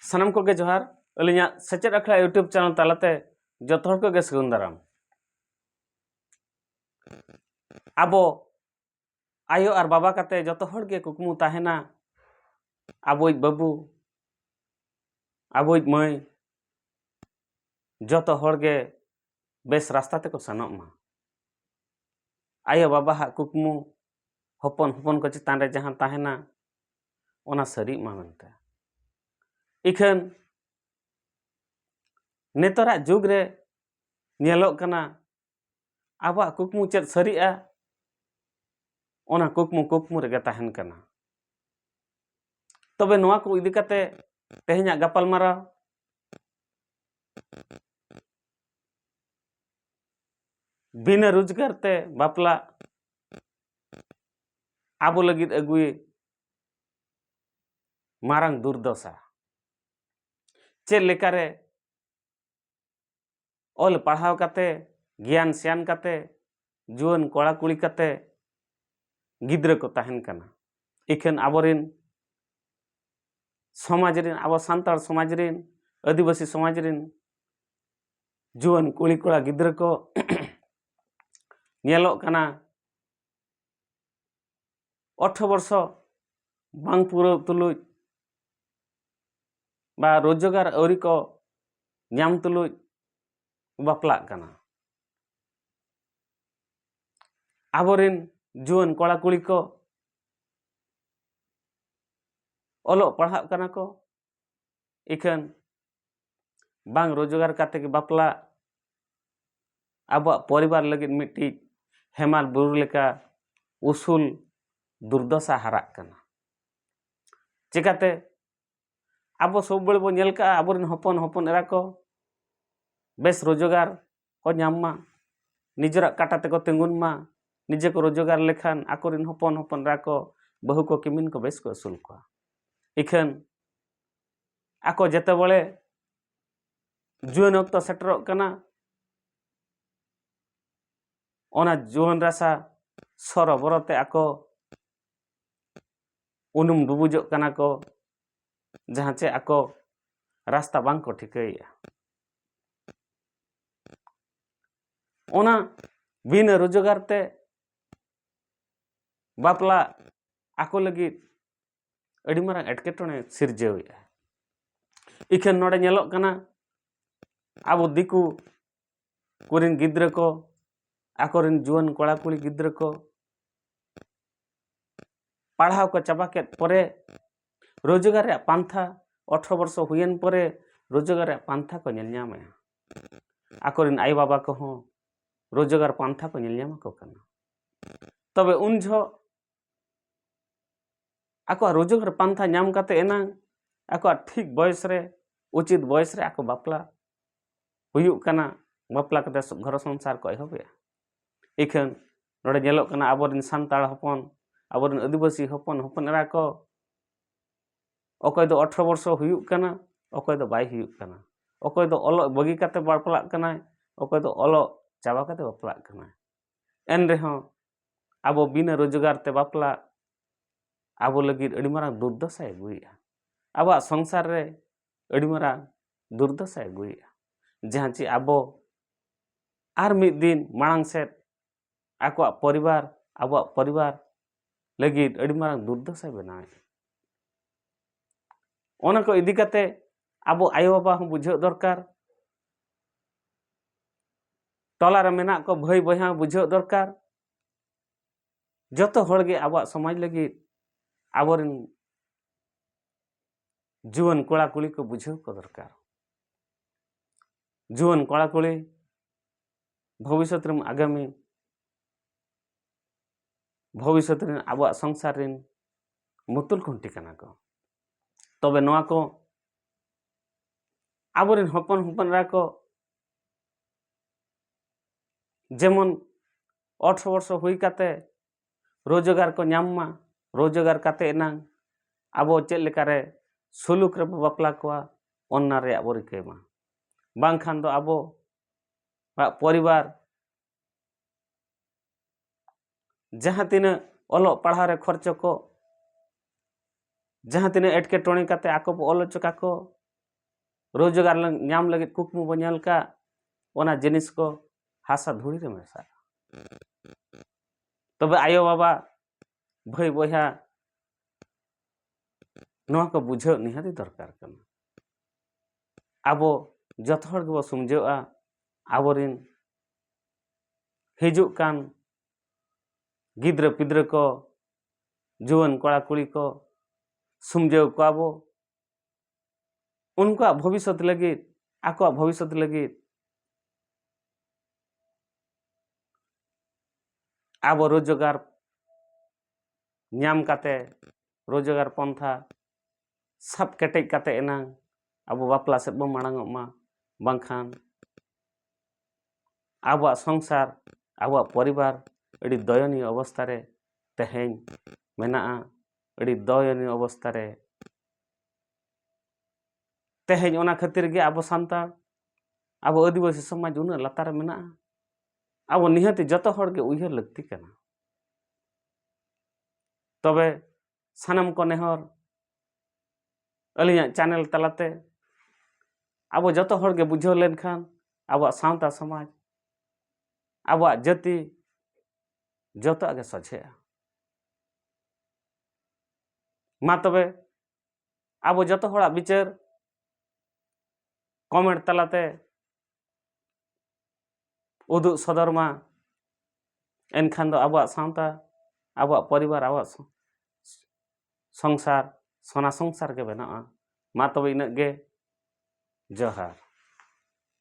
ᱥᱟᱱᱟᱢ ᱠᱚᱜᱮ ᱡᱚᱦᱟᱨ ᱟᱹᱞᱤᱧᱟᱜ ᱥᱮᱪᱮᱫ ᱟᱠᱷᱲᱟ ᱤᱭᱩᱴᱩᱵᱽ ᱪᱮᱱᱮᱞ ᱛᱟᱞᱟᱛᱮ ᱡᱚᱛᱚ ᱦᱚᱲ ᱠᱚᱜᱮ ᱥᱟᱹᱜᱩᱱ ᱫᱟᱨᱟᱢ ᱟᱵᱚ ᱟᱭᱳ ᱟᱨ ᱵᱟᱵᱟ ᱠᱟᱛᱮ ᱡᱚᱛᱚ ᱦᱚᱲ ᱜᱮ ᱠᱩᱠᱢᱩ ᱛᱟᱦᱮᱱᱟ ᱟᱵᱚᱭᱤᱡ ᱵᱟᱹᱵᱩ ᱟᱵᱚᱭᱤᱡ ᱢᱟᱹᱭ ᱡᱚᱛᱚ ᱦᱚᱲ ᱜᱮ ᱵᱮᱥ ᱨᱟᱥᱛᱟ ᱛᱮᱠᱚ ᱥᱮᱱᱚᱜ ᱢᱟ ᱟᱭᱳ ᱵᱟᱵᱟᱦᱟᱜ ᱠᱩᱠᱢᱩ ᱦᱚᱯᱚᱱ ᱦᱚᱯᱚᱱ ᱠᱚ ᱪᱮᱛᱟᱱ ᱨᱮ ᱡᱟᱦᱟᱸ ᱛᱟᱦᱮᱱᱟ ᱚᱱᱟ ᱥᱟᱹᱨᱤᱜ ᱢᱟ ᱢᱮᱱᱛᱮ ᱤᱠᱷᱟᱹᱱ ᱱᱮᱛᱟᱨᱟᱜ ᱡᱩᱜᱽ ᱨᱮ ᱧᱮᱞᱚᱜ ᱠᱟᱱᱟ ᱟᱵᱚᱣᱟᱜ ᱠᱩᱠᱢᱩ ᱪᱮᱫ ᱥᱟᱹᱨᱤᱜᱼᱟ ᱚᱱᱟ ᱠᱩᱠᱢᱩ ᱠᱩᱠᱢᱩ ᱨᱮᱜᱮ ᱛᱟᱦᱮᱱ ᱠᱟᱱᱟ ᱛᱚᱵᱮ ᱱᱚᱣᱟ ᱠᱚ ᱤᱫᱤ ᱠᱟᱛᱮ ᱛᱮᱦᱮᱧᱟᱜ ᱜᱟᱯᱟᱞᱢᱟᱨᱟᱣ ᱵᱤᱱᱟᱹ ᱨᱳᱡᱽᱜᱟᱨ ᱛᱮ ᱵᱟᱯᱞᱟ ᱟᱵᱚ ᱞᱟᱹᱜᱤᱫ ᱟᱹᱜᱩᱭ ᱢᱟᱨᱟᱝ ᱫᱩᱨᱫᱚᱥᱟ ᱪᱮᱫ ᱞᱮᱠᱟᱨᱮ ᱚᱞ ᱯᱟᱲᱦᱟᱣ ᱠᱟᱛᱮ ᱜᱮᱭᱟᱱ ᱥᱮᱭᱟᱱ ᱠᱟᱛᱮ ᱡᱩᱣᱟᱹᱱ ᱠᱚᱲᱟ ᱠᱩᱲᱤ ᱠᱟᱛᱮ ᱜᱤᱫᱽᱨᱟᱹ ᱠᱚ ᱛᱟᱦᱮᱱ ᱠᱟᱱᱟ ᱤᱠᱷᱟᱹᱱ ᱟᱵᱚᱨᱮᱱ ᱥᱚᱢᱟᱡᱽ ᱨᱮᱱ ᱟᱵᱚ ᱥᱟᱱᱛᱟᱲ ᱥᱚᱢᱟᱡᱽ ᱨᱮᱱ ᱟᱹᱫᱤᱵᱟᱹᱥᱤ ᱥᱚᱢᱟᱡᱽ ᱨᱮᱱ ᱡᱩᱣᱟᱹᱱ ᱠᱩᱲᱤ ᱠᱚᱲᱟ ᱜᱤᱫᱽᱨᱟᱹ ᱠᱚ ᱧᱮᱞᱚᱜ ᱠᱟᱱᱟ ᱚᱴᱷᱨᱚ ᱵᱚᱨᱥᱚ ᱵᱟᱝ ᱯᱩᱨᱟᱹᱣ ᱛᱩᱞᱩᱡ ᱵᱟ ᱨᱳᱡᱽᱜᱟᱨ ᱟᱹᱣᱨᱤ ᱠᱚ ᱧᱟᱢ ᱛᱩᱞᱩᱡ ᱵᱟᱯᱞᱟᱜ ᱠᱟᱱᱟ ᱟᱵᱚᱨᱮᱱ ᱡᱩᱣᱟᱹᱱ ᱠᱚᱲᱟ ᱠᱩᱲᱤ ᱠᱚ ᱚᱞᱚᱜ ᱯᱟᱲᱦᱟᱜ ᱠᱟᱱᱟ ᱠᱚ ᱤᱠᱷᱟᱹᱱ ᱵᱟᱝ ᱨᱳᱡᱽᱜᱟᱨ ᱠᱟᱛᱮ ᱜᱮ ᱵᱟᱯᱞᱟ ᱟᱵᱚᱣᱟᱜ ᱯᱚᱨᱤᱵᱟᱨ ᱞᱟᱹᱜᱤᱫ ᱢᱤᱫᱴᱤᱡ ᱦᱮᱢᱟᱞ ᱵᱩᱨᱩ ᱞᱮᱠᱟ ᱩᱥᱩᱞ ᱫᱩᱨᱫᱚᱥᱟ ᱦᱟᱨᱟᱜ ᱠᱟᱱᱟ ᱪᱮᱠᱟᱛᱮ ᱟᱵᱚ ᱥᱚᱵ ᱵᱟᱹᱲ ᱵᱚᱱ ᱧᱮᱞ ᱠᱟᱜᱼᱟ ᱟᱵᱚᱨᱮᱱ ᱦᱚᱯᱚᱱ ᱦᱚᱯᱚᱱ ᱮᱨᱟ ᱠᱚ ᱵᱮᱥ ᱨᱳᱡᱽᱜᱟᱨ ᱠᱚ ᱧᱟᱢ ᱢᱟ ᱱᱤᱡᱮᱨᱟᱜ ᱠᱟᱴᱟ ᱛᱮᱠᱚ ᱛᱤᱸᱜᱩᱱ ᱢᱟ ᱱᱤᱡᱮ ᱠᱚ ᱨᱳᱡᱽᱜᱟᱨ ᱞᱮᱠᱷᱟᱱ ᱟᱠᱚ ᱨᱮᱱ ᱦᱚᱯᱚᱱ ᱦᱚᱯᱚᱱ ᱮᱨᱟ ᱠᱚ ᱵᱟᱹᱦᱩ ᱠᱚ ᱠᱤᱢᱤᱱ ᱠᱚ ᱵᱮᱥ ᱠᱚ ᱟᱹᱥᱩᱞ ᱠᱚᱣᱟ ᱤᱠᱷᱟᱹᱱ ᱟᱠᱚ ᱡᱮᱛᱮ ᱵᱟᱲᱮ ᱡᱩᱣᱟᱹᱱ ᱚᱠᱛᱚ ᱥᱮᱴᱮᱨᱚᱜ ᱠᱟᱱᱟ ᱚᱱᱟ ᱡᱩᱣᱟᱹᱱ ᱨᱟᱥᱟ ᱥᱚᱨᱚᱵᱚᱨᱚ ᱛᱮ ᱟᱠᱚ ᱩᱱᱩᱢ ᱰᱩᱵᱩᱡᱚᱜ ᱠᱟᱱᱟ ᱠᱚ ᱡᱟᱦᱟᱸ ᱪᱮ ᱟᱠᱚ ᱨᱟᱥᱛᱟ ᱵᱟᱝ ᱠᱚ ᱴᱷᱤᱠᱟᱹᱭᱮᱜᱼᱟ ᱚᱱᱟ ᱵᱤᱱᱟᱹ ᱨᱳᱡᱽᱜᱟᱨ ᱛᱮ ᱵᱟᱯᱞᱟ ᱟᱠᱚ ᱞᱟᱹᱜᱤᱫ ᱟᱹᱰᱤ ᱢᱟᱨᱟᱝ ᱮᱴᱠᱮᱴᱚᱬᱮ ᱥᱤᱨᱡᱟᱹᱣᱮᱫᱼᱟ ᱤᱠᱷᱟᱹᱱ ᱱᱚᱰᱮ ᱧᱮᱞᱚᱜ ᱠᱟᱱᱟ ᱟᱵᱚ ᱫᱤᱠᱩ ᱠᱚᱨᱮᱱ ᱜᱤᱫᱽᱨᱟᱹ ᱠᱚ ᱟᱠᱚᱨᱮᱱ ᱡᱩᱣᱟᱹᱱ ᱠᱚᱲᱟ ᱠᱩᱲᱤ ᱜᱤᱫᱽᱨᱟᱹ ᱠᱚ ᱯᱟᱲᱦᱟᱣ ᱠᱚ ᱪᱟᱵᱟ ᱠᱮᱫ ᱯᱚᱨᱮ ᱨᱳᱡᱽᱜᱟᱨ ᱨᱮᱭᱟᱜ ᱯᱟᱱᱛᱷᱟ ᱟᱴᱷᱨᱚ ᱵᱚᱨᱥᱚ ᱦᱩᱭᱮᱱ ᱯᱚᱨᱮ ᱨᱳᱡᱽᱜᱟᱨ ᱨᱮᱭᱟᱜ ᱯᱟᱱᱛᱷᱟ ᱠᱚ ᱧᱮᱞ ᱧᱟᱢᱮᱜᱼᱟ ᱟᱠᱚᱨᱮᱱ ᱟᱭᱳ ᱵᱟᱵᱟ ᱠᱚᱦᱚᱸ ᱨᱳᱡᱽᱜᱟᱨ ᱯᱟᱱᱛᱷᱟ ᱠᱚ ᱧᱮᱞ ᱧᱟᱢᱟᱠᱚ ᱠᱟᱱᱟ ᱛᱚᱵᱮ ᱩᱱ ᱡᱚᱦᱚᱜ ᱟᱠᱚᱣᱟᱜ ᱨᱳᱡᱽᱜᱟᱨ ᱯᱟᱱᱛᱷᱟ ᱧᱟᱢ ᱠᱟᱛᱮ ᱮᱱᱟᱝ ᱟᱠᱚᱣᱟᱜ ᱴᱷᱤᱠ ᱵᱚᱭᱮᱥ ᱨᱮ ᱩᱪᱤᱛ ᱵᱚᱭᱮᱥ ᱨᱮ ᱟᱠᱚ ᱵᱟᱯᱞᱟ ᱦᱩᱭᱩᱜ ᱠᱟᱱᱟ ᱵᱟᱯᱞᱟ ᱠᱟᱛᱮ ᱜᱷᱚᱨ ᱥᱚᱝᱥᱟᱨ ᱠᱚ ᱮᱦᱚᱵᱮᱜᱼᱟ ᱤᱠᱷᱟᱹᱱ ᱱᱚᱰᱮ ᱧᱮᱞᱚᱜ ᱠᱟᱱᱟ ᱟᱵᱚᱨᱮᱱ ᱥᱟᱱᱛᱟᱲ ᱦᱚᱯᱚᱱ ᱟᱵᱚᱨᱮᱱ ᱟᱹᱫᱤᱵᱟᱹᱥᱤ ᱦᱚᱯᱚᱱ ᱦᱚᱯᱚᱱ ᱮᱨᱟ ᱠᱚ ᱚᱠᱚᱭ ᱫᱚ ᱚᱴᱷᱨᱚ ᱵᱚᱨᱥᱚ ᱦᱩᱭᱩᱜ ᱠᱟᱱᱟ ᱚᱠᱚᱭ ᱫᱚ ᱵᱟᱭ ᱦᱩᱭᱩᱜ ᱠᱟᱱᱟ ᱚᱠᱚᱭ ᱫᱚ ᱚᱞᱚᱜ ᱵᱟᱹᱜᱤ ᱠᱟᱛᱮ ᱵᱟᱯᱞᱟᱜ ᱠᱟᱱᱟᱭ ᱚᱠᱚᱭ ᱫᱚ ᱚᱞᱚᱜ ᱪᱟᱵᱟ ᱠᱟᱛᱮ ᱵᱟᱯᱞᱟᱜ ᱠᱟᱱᱟᱭ ᱮᱱ ᱨᱮᱦᱚᱸ ᱟᱵᱚ ᱵᱤᱱᱟᱹ ᱨᱳᱡᱽᱜᱟᱨ ᱛᱮ ᱵᱟᱯᱞᱟ ᱟᱵᱚ ᱞᱟᱹᱜᱤᱫ ᱟᱹᱰᱤ ᱢᱟᱨᱟᱝ ᱫᱩᱨᱫᱚᱥᱟᱭ ᱟᱹᱜᱩᱭᱮᱫᱼᱟ ᱟᱵᱚᱣᱟᱜ ᱥᱚᱝᱥᱟᱨ ᱨᱮ ᱟᱹᱰᱤ ᱢᱟᱨᱟᱝ ᱫᱩᱨᱫᱚᱥᱟᱭ ᱟᱹᱜᱩᱭᱮᱫᱼᱟ ᱡᱟᱦᱟᱸ ᱪᱮ ᱟᱵᱚ ᱟᱨ ᱢᱤᱫ ᱫᱤᱱ ᱢᱟᱲᱟᱝ ᱥᱮᱫ ᱟᱠᱚᱣᱟᱜ ᱯᱚᱨᱤᱵᱟᱨ ᱟᱵᱚᱣᱟᱜ ᱯᱚᱨᱤᱵᱟᱨ ᱞᱟᱹᱜᱤᱫ ᱟᱹᱰᱤ ᱢᱟᱨᱟᱝ ᱫᱩᱨᱫᱚᱥᱟᱭ ᱵᱮᱱᱟᱣᱮᱫᱼᱟ ᱚᱱᱟ ᱠᱚ ᱤᱫᱤ ᱠᱟᱛᱮ ᱟᱵᱚ ᱟᱭᱳᱼᱵᱟᱵᱟ ᱦᱚᱸ ᱵᱩᱡᱷᱟᱹᱣ ᱫᱚᱨᱠᱟর ᱴᱚᱞᱟ ᱨᱮ ᱢᱮᱱᱟᱜ ᱠᱚ ᱵᱷᱟᱹᱭ ᱵᱚᱭᱦᱟ ᱵᱩᱡᱷᱟᱹᱣ ᱫᱚᱨᱠᱟর ᱡᱚᱛᱚ ᱦᱚᱲ ᱜᱮ ᱟᱵᱚᱣᱟᱜ ᱥᱚᱢᱟᱡᱽ ᱞᱟᱹᱜᱤᱫ ᱟᱵᱚᱨᱮᱱ ᱡᱩᱣᱟᱹᱱ ᱠᱚᱲᱟ ᱠᱩᱲᱤ ᱠᱚ ᱵᱩᱡᱷᱟᱹᱣ ᱠᱚ ᱫᱚᱨᱠᱟᱨ ᱡᱩᱣᱟᱹᱱ ᱠᱚᱲᱟ ᱠᱩᱲᱤ ᱵᱷᱚᱵᱤᱥᱚᱛᱨᱮ ᱟᱜᱟᱢᱤ ᱵᱷᱚᱵᱤᱥᱚᱛ ᱨᱮᱱ ᱟᱵᱚᱣᱟᱜ ᱥᱚᱝᱥᱟᱨ ᱨᱮᱱ ᱢᱩᱛᱩᱞ ᱠᱷᱩᱱᱴᱤ ᱠᱟᱱᱟ ᱠᱚ ᱛᱚᱵᱮ ᱱᱚᱣᱟ ᱠᱚ ᱟᱵᱚᱨᱮᱱ ᱦᱚᱯᱚᱱ ᱦᱚᱯᱚᱱᱨᱟ ᱠᱚ ᱡᱮᱢᱚᱱ ᱚᱴᱷᱨᱚ ᱵᱚᱨᱥᱚ ᱦᱩᱭ ᱠᱟᱛᱮ ᱨᱳᱡᱽᱜᱟᱨ ᱠᱚ ᱧᱟᱢ ᱢᱟ ᱨᱳᱡᱽᱜᱟᱨ ᱠᱟᱛᱮ ᱮᱱᱟᱝ ᱟᱵᱚ ᱪᱮᱫ ᱞᱮᱠᱟᱨᱮ ᱥᱩᱞᱩᱠ ᱨᱮᱵᱚ ᱵᱟᱯᱞᱟ ᱠᱚᱣᱟ ᱚᱱᱟ ᱨᱮᱭᱟᱜ ᱵᱚ ᱨᱤᱠᱟᱹᱭ ᱢᱟ ᱵᱟᱝᱠᱷᱟᱱ ᱫᱚ ᱟᱵᱚ ᱟᱜ ᱯᱚᱨᱤᱵᱟᱨ ᱡᱟᱦᱟᱸ ᱛᱤᱱᱟᱹᱜ ᱚᱞᱚᱜ ᱯᱟᱲᱦᱟᱣ ᱨᱮ ᱠᱷᱚᱨᱪᱚ ᱠᱚ ᱡᱟᱦᱟᱸ ᱛᱤᱱᱟᱹᱜ ᱮᱴᱠᱮᱴᱚᱬᱮ ᱠᱟᱛᱮ ᱟᱠᱚ ᱵᱚ ᱚᱞ ᱦᱚᱪᱚ ᱠᱟᱠᱚ ᱨᱳᱡᱽᱜᱟᱨ ᱧᱟᱢ ᱞᱟᱹᱜᱤᱫ ᱠᱩᱠᱢᱩ ᱵᱚ ᱧᱮᱞ ᱠᱟᱜ ᱚᱱᱟ ᱡᱤᱱᱤᱥ ᱠᱚ ᱦᱟᱥᱟ ᱫᱷᱩᱲᱤ ᱨᱮ ᱢᱮᱥᱟᱜᱼᱟ ᱛᱚᱵᱮ ᱟᱭᱳᱼᱵᱟᱵᱟ ᱵᱷᱟᱹᱭ ᱵᱚᱭᱦᱟ ᱱᱚᱣᱟ ᱠᱚ ᱵᱩᱡᱷᱟᱹᱣ ᱱᱤᱦᱟᱹᱛᱤ ᱫᱚᱨᱠᱟᱨ ᱠᱟᱱᱟ ᱟᱵᱚ ᱡᱚᱛᱚ ᱦᱚᱲ ᱜᱮᱵᱚ ᱥᱩᱢᱡᱷᱟᱹᱜᱼᱟ ᱟᱵᱚᱨᱤᱱ ᱦᱤᱡᱩᱜ ᱠᱟᱱ ᱜᱤᱫᱽᱨᱟᱹ ᱯᱤᱫᱽᱨᱟᱹ ᱠᱚ ᱡᱩᱣᱟᱹᱱ ᱠᱚᱲᱟ ᱠᱩᱲᱤ ᱠᱚ ᱥᱩᱢᱡᱷᱟᱹᱣ ᱠᱚᱣᱟ ᱵᱚ ᱩᱱᱠᱩᱣᱟᱜ ᱵᱷᱚᱵᱤᱥᱥᱚᱛ ᱞᱟᱹᱜᱤᱫ ᱟᱠᱚᱣᱟᱜ ᱵᱷᱚᱵᱤᱥᱥᱚᱛ ᱞᱟᱹᱜᱤᱫ ᱟᱵᱚ ᱨᱳᱡᱽᱜᱟᱨ ᱧᱟᱢ ᱠᱟᱛᱮ ᱨᱳᱡᱽᱜᱟᱨ ᱯᱚᱱᱛᱷᱟ ᱥᱟᱵ ᱠᱮᱴᱮᱡ ᱠᱟᱛᱮ ᱮᱱᱟᱝ ᱟᱵᱚ ᱵᱟᱯᱞᱟ ᱥᱮᱫ ᱵᱚᱱ ᱢᱟᱲᱟᱝᱚᱜ ᱢᱟ ᱵᱟᱝᱠᱷᱟᱱ ᱟᱵᱚᱣᱟᱜ ᱥᱚᱝᱥᱟᱨ ᱟᱵᱚᱣᱟᱜ ᱯᱚᱨᱤᱵᱟᱨ ᱟᱹᱰᱤ ᱫᱚᱭᱚᱱᱤᱭᱚ ᱚᱵᱚᱥᱛᱷᱟ ᱨᱮ ᱛᱮᱦᱮᱧ ᱢᱮᱱᱟᱜᱼᱟ ᱟᱹᱰᱤ ᱫᱚᱭᱚᱱᱤᱭᱚ ᱚᱵᱚᱥᱛᱷᱟ ᱨᱮ ᱛᱮᱦᱮᱧ ᱚᱱᱟ ᱠᱷᱟᱹᱛᱤᱨ ᱜᱮ ᱟᱵᱚ ᱥᱟᱱᱛᱟᱲ ᱟᱵᱚ ᱟᱹᱫᱤᱵᱟᱹᱥᱤ ᱥᱚᱢᱟᱡᱽ ᱩᱱᱟᱹᱜ ᱞᱟᱛᱟᱨ ᱨᱮ ᱢᱮᱱᱟᱜᱼᱟ ᱟᱵᱚ ᱱᱤᱦᱟᱹᱛᱤ ᱡᱚᱛᱚ ᱦᱚᱲ ᱜᱮ ᱩᱭᱦᱟᱹᱨ ᱞᱟᱹᱠᱛᱤ ᱠᱟᱱᱟ ᱛᱚᱵᱮ ᱥᱟᱱᱟᱢ ᱠᱚ ᱱᱮᱦᱚᱨ ᱟᱹᱞᱤᱧᱟᱜ ᱪᱮᱱᱮᱞ ᱛᱟᱞᱟᱛᱮ ᱟᱵᱚ ᱡᱚᱛᱚ ᱦᱚᱲ ᱜᱮ ᱵᱩᱡᱷᱟᱹᱣ ᱞᱮᱱᱠᱷᱟᱱ ᱟᱵᱚᱣᱟᱜ ᱥᱟᱶᱛᱟ ᱥᱚᱢᱟᱡᱽ ᱟᱵᱚᱣᱟᱜ ᱡᱟᱹᱛᱤ ᱡᱚᱛᱚᱣᱟᱜ ᱜᱮ ᱥᱚᱡᱷᱮᱜᱼᱟ ᱢᱟ ᱛᱚᱵᱮ ᱟᱵᱚ ᱡᱚᱛᱚ ᱦᱚᱲᱟᱜ ᱵᱤᱪᱟᱹᱨ ᱠᱚᱢᱮᱱᱴ ᱛᱟᱞᱟᱛᱮ ᱩᱫᱩᱜ ᱥᱚᱫᱚᱨ ᱢᱟ ᱮᱱᱠᱷᱟᱱ ᱫᱚ ᱟᱵᱚᱣᱟᱜ ᱥᱟᱶᱛᱟ ᱟᱵᱚᱣᱟᱜ ᱯᱚᱨᱤᱵᱟᱨ ᱟᱵᱚᱣᱟᱜ ᱥᱚᱝᱥᱟᱨ ᱥᱚᱱᱟ ᱥᱚᱝᱥᱟᱨ ᱜᱮ ᱵᱮᱱᱟᱜᱼᱟ ᱢᱟ ᱛᱚᱵᱮ ᱤᱱᱟᱹᱜ ᱜᱮ ᱡᱚᱦᱟᱨ